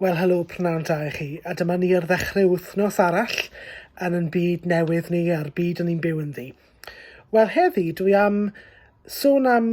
Wel helo, pnawn da i chi, a dyma ni ar ddechrau wythnos arall yn yn byd newydd ni a'r byd o'n i'n byw ynddi. Wel heddi dwi am sôn am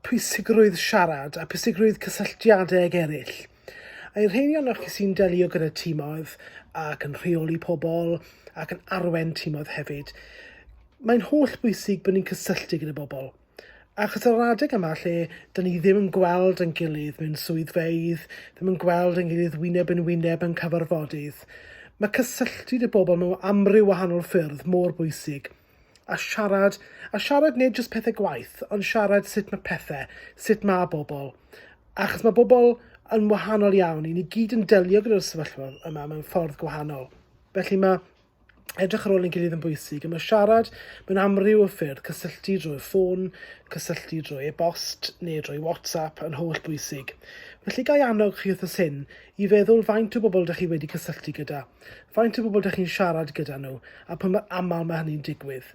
pwysigrwydd siarad a pwysigrwydd cysylltiadau ag eraill. A i'r rheini o'noch chi sy'n delio gyda tîmoedd ac yn rheoli pobl ac yn arwen tîmoedd hefyd, mae'n holl bwysig bod ni'n cysylltu gyda bobl. Achos yr adeg yma lle dyn ni ddim yn gweld yn gilydd mewn swyddfeydd, ddim yn gweld yn gilydd wyneb yn wyneb yn cyfarfodydd, mae cysylltu dy bobl mewn amryw wahanol ffyrdd mor bwysig. A siarad, a siarad nid jyst pethau gwaith, ond siarad sut mae pethau, sut mae bobl. Achos mae bobl yn wahanol iawn, i ni gyd yn delio gyda'r sefyllfa yma mewn ffordd gwahanol. Felly mae Edrych ar ôl ein gilydd yn bwysig, a mae siarad mewn amryw o ffyrdd, cysylltu drwy'r ffôn, cysylltu drwy e-bost neu drwy WhatsApp yn holl bwysig. Felly gai annog chi wrth y syn i feddwl faint o bobl ydych chi wedi cysylltu gyda, faint o bobl ydych chi'n siarad gyda nhw a pwy mor aml mae hynny'n digwydd.